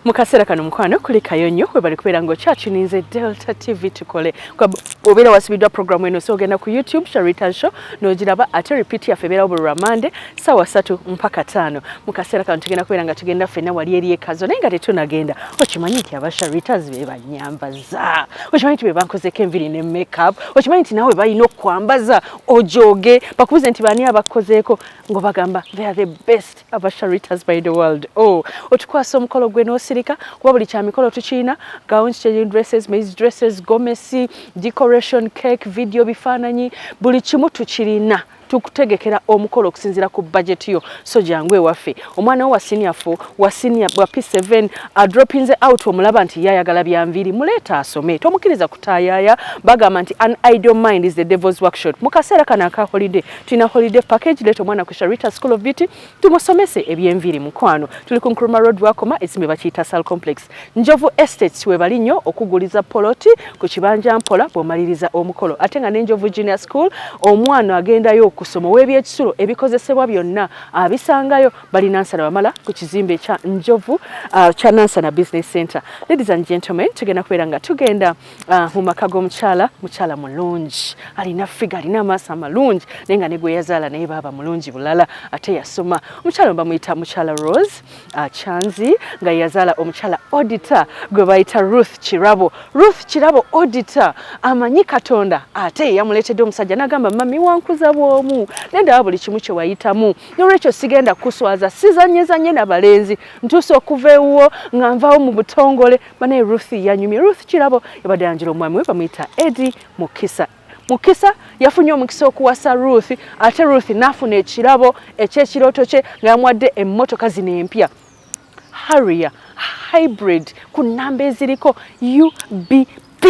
mu kaseera kano mukwano kulikayo nnyo webali kubeera ng'okyatuninze delta tv tukole obeera wasibiddwa programu eno so ogenda ku youtube sharitan show n'ogiraba ate repeat yaffe ebeerawo buli lwamande saawa satu mpaka taano mu kaseera kano tugenda kubeera nga tugenda ffenna wali eri ekazo naye nga tetunagenda okimanyi nti aba sharitas be banyambaza okimanyi nti be bankozeko enviri ne makeup okimanyi nti nawe balina okukwambaza ojoge bakubuze nti baani abakukozeeko ng'obagamba they are the best aba sharitas by the world oh otukwasa omukolo gwe nosirika kuba buli kya mikolo tukiyina gowns changing dresses maize dresses gomesi decoration cake video bifaananyi buli kimu tukirina tukutegekera omukolo okusinzira ku budget yo so jangu ewaffe omwana wo wa senior 4 wa senior wa p7 adropinze out omulaba nti yayagala byanviiri muleeta asome tomukiriza kutayaya bagamba nti an idle mind is the devil's workshop mu kaseera kano aka holiday Tina holiday package leeta omwana ku Sharita School of Beauty tumusomese ebyenviiri mukwano. Tuli ku Nkrumah Road wakoma ekizimbe bakiyita Sal Complex. Njovu Estates webali nnyo okuguliza poloti ku kibanja mpola bw'omaliriza omukolo ate nga ne Njovu Junior School omwana agendayo okusoma ow'ebyekisulo ebikozesebwa byonna abisangayo bali Nansana Wamala ku kizimbe kya Njovu uh, kya Nansana Business Center. Ladies and gentlemen tugenda kubeera nga tugenda Ah, mu maka g'omukyala mukyala mulungi alina figa alina amaaso amalungi naye nga negweyazaala naye baaba mulungi bulala ate yasoma omukyala bamuyita mukyala rose ah, chanzi nga yeyazaala omukyala odita gwe bayita ruth kirabo ruth kirabo odita amanyi katonda ate yeyamuleetedde omusajja nagamba mami wankuza bwomu naye ndaba buli kimu kyewayitamu nolwekyo sigenda kuswaza sizanyezanye nabalenzi ntuusa okuva ewuwo nga nvawo mu butongole bane Ruth yanyumye Ruth kirabo yabadde yanjira omwami we bamuyita Eddie Mukisa mukisa yafunye omukisa okuwasa Ruth ate Ruth nafuna ekirabo ekyekirooto kye nga yamuwadde emmotoka zino empya Harrier hybrid ku namba eziriko UBP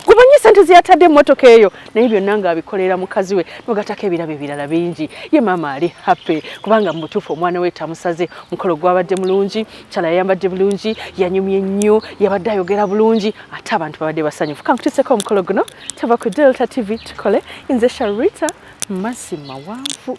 gumanyi sente zeyatadde emotoka eyo naye byonna nga abikolera mukazi we nogatako ebirabo ebirala bingi ye maama ali happy kubanga mubutuufu omwana we tamusaze mukolo gwabadde mulungi kyala yayambadde bulungi yanyumye nnyo yabadde ayogera bulungi ate abantu babadde basanyufu kankutiseko omukolo guno tava ku delta tv tukole nze sharita mazima wanvu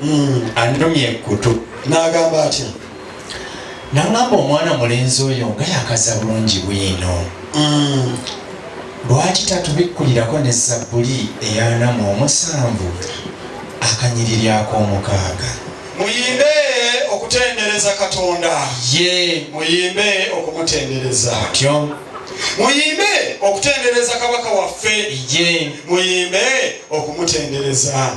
Hmm, annumya ekkutu n'agamba atya nangamba omwana mulenzi oyo nga yakaza bulungi bwino hmm. lwaki tatubikkulirako ne zabbuli eyanama omusanvu akanyiriri ak'omukaaga muyimbe okutendereza katonda ye muyimbe okumutendereza tyo muyimbe okutendereza kabaka waffe ye muyimbe okumutendereza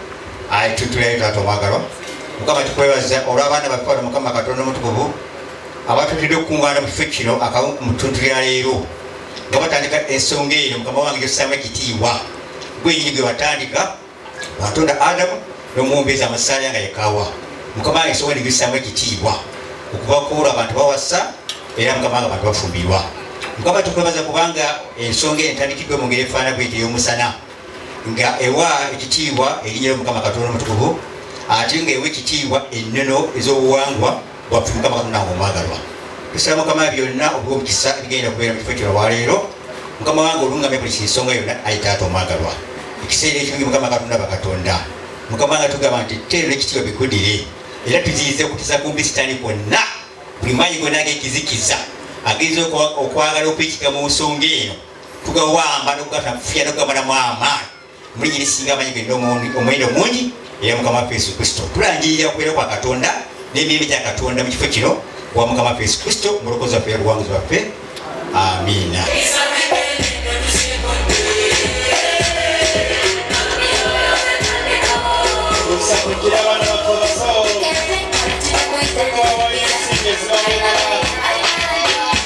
ayi tutulayo taata omwagalwa mukama tukwebaza olw'abaana baffe bano mukama katonda omutukuvu abatutidde okukuŋŋaana mu kifo kino akamu ku mutuntu lya leero nga batandika ensonga eyo mukama wange gyossamu ekitiibwa gwenyini gwe batandika watonda adamu n'omuwumbeeza amasaaya nga yekawa mukama wange ensonga ni gyossamu ekitiibwa okubakuula abantu bawasa era mukama wange abantu bafumbirwa mukama tukwebaza kubanga ensonga eyo entandikiddwa mu ngeri efaana bwetyo ey'omusana nga ewa ekitiibwa erinnya ly'omukama katonda omutukuvu ate nga ewa ekitiibwa ennono ez'obuwangwa bwaffe mukama katonda nga omwagalwa tusaba mukama byonna obw'omukisa ebigenda okubeera mu kifo kino olwaleero mukama wange olungamya buli kinsonga yonna ayi taata omwagalwa ekiseera ekirungi mukama katonda bakatonda mukama nga tugamba nti teero n'ekitiibwa bikudire era tuziyize okutiza kumbi sitaani kwonna buli maanyi gonna ag'ekizikiza ageza okwagala okwekika mu nsonga eno tugawamba nokugatafya nokugabanamu amaani muli nyirisinga amanyi genda omwendo mungi era mukama waffe yesu kristo tulangirira kubeera kwa katonda n'emirembe gya katonda mu kifo kino wa mukama waffe yesu kristo mulokozi waffe yabuwanguzi waffe amiina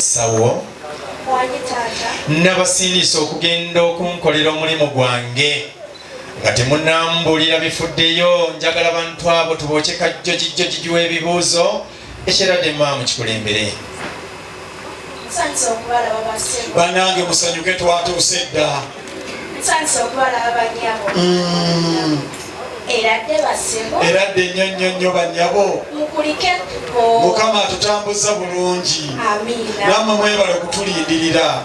sawo nabasiinisa okugenda okunkolera omulimu gwange nga temunambuulira bifuddeyo njagala bantu abo tubookye kajjojijjojiji w'ebibuuzo Ekirade Imam kikulembere. Banange musanyuke twatuuse dda. Mm. Era dde nnyo nnyo nnyo bannyabo. Mukama atutambuzza bulungi. Namwe mwebale kutulindirira.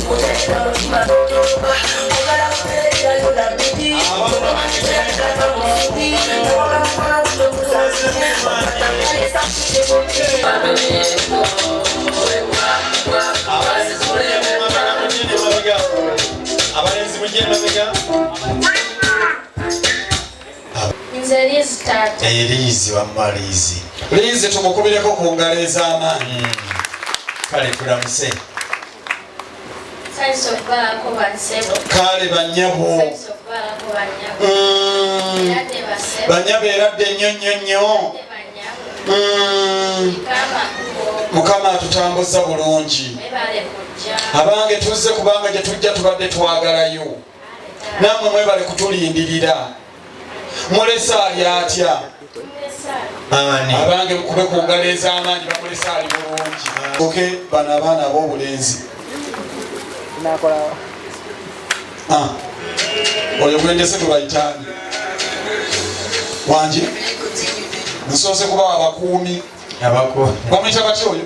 eriizi wamma liizi liizi tumukubireko ku ngalo ez'amaanyi hmm. kale tulamuse kaale banyabo mm. banyabo eradde nnyo nnyo nnyo mm. mukama atutambuza bulungi abange tuzze kubanga gyetujja tubadde twagalayo namwe mwebale kutulindirira mulese ali atya abange mukube ku ngalo ez'amaanyi bamulese ali bulungi oke bano abaana ab'obulenzi ah. oyo gwendese gwebayitaani wangi nsoose kubawa abakuumi bamuyita batya oyo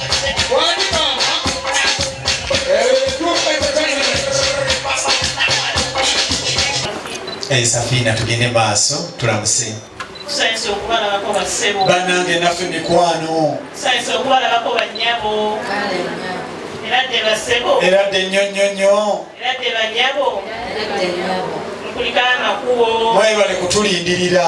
ensafiina tugende maaso tulamuse banange naffe mikwano eradde nnyo nnyo nnyo mwebale kutulindirira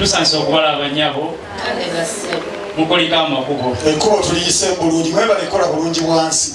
tusanze okubala abanyabo mukulika amakubo ekkubo tuliyise bulungi mwebale kola bulungi bwansi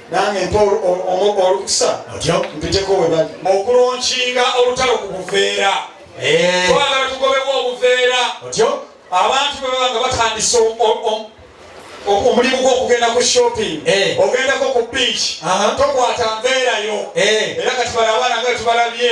nange mpa olukusa mpiteko webali okulonkinga olutalo ku buveera eh. twagala tugobewo obuveera abantu bwebaba nga batandise omulimu gwokugenda ku shopping eh. ogendako ku beach tokwata nveerayo eh. era kati bala abaana nga tubalabye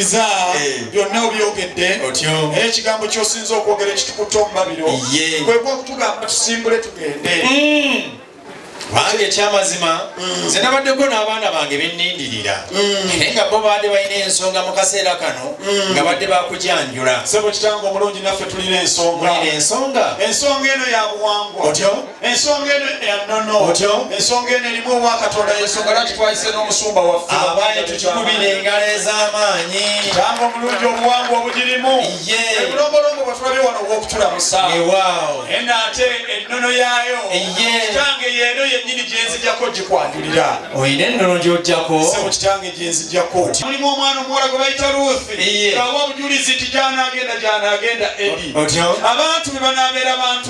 iza byonna obyogedde naye ekigambo kyosinza okwogera ekitukuta omubabiro kwekwa okutugamba tusimbule tugende mm. kubanga ekyamazima mm. nze nabaddeko n'abaana bange benindirira mm. naye nga bo baadde balina ensonga mu kaseera kano mm. nga badde bakujanjula sebo kitange omulungi naffe tulina ensonga ensonga ensonga eno yabuwangwa otyo ensonga eno ya nnono otyo ensonga eno erimu obwa katonda yensonga lwaki twayise n'omusumba waffe abaye tukikubira engalo ez'amaanyi tanga omulungi obuwangwa obugirimu ye obulombolombo bwe tulabye wano obw'okutulamusa ewaawo eno ate ennono yaayo ye kitange yeeno yennyini gye nzijako gikwanjulira olina ennono gy'ojjako sebo kitange gye nzijako mulimu omwana omuwala gwe bayita ruth awa obujulizi nti gyanaagenda gyanaagenda eri abantu be banaabeera bantu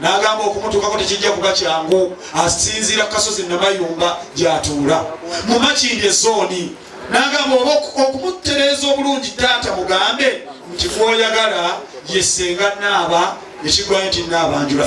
n'agamba okumutuukako tekijja kuba kyangu asinziira ku kasozi namayumba gy'atuula mu makindi ezooni n'agamba oba okumutereeza obulungi taata mugambe nti gwoyagala yesenga naaba ekigwayo nti naabanjula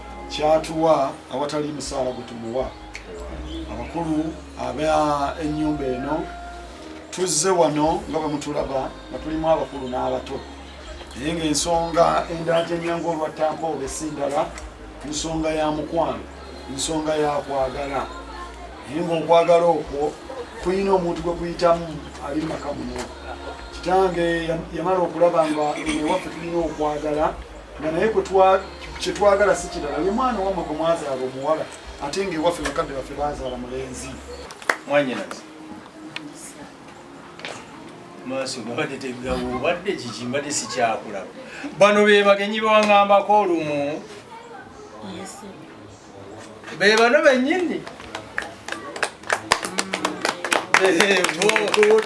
kyatuwa awatali musaala gwe tumuwa abakulu aba ennyumba eno tuzze wano nga bwe mutulaba nga tulimu abakulu n'abato naye ng'ensonga endala gyenyangu olwa tampoobe si ndala nsonga ya mukwano nsonga ya kwagala naye ng'okwagala okwo kulina omuntu gwe kuyitamu ali mu maka muno kitange yamala okulaba nga ewaffe tulina okwagala nga naye kyetwagala si kirala ye mwana wamwe gwe mwazaala omuwala ate nga ewaffe bakadde baffe bazaala mulenzi mwanyinazi maaso gabadde tegawo obadde kiki mbadde sikyakulaba bano be bagenyi bewangambako olumu be bano benyini mm.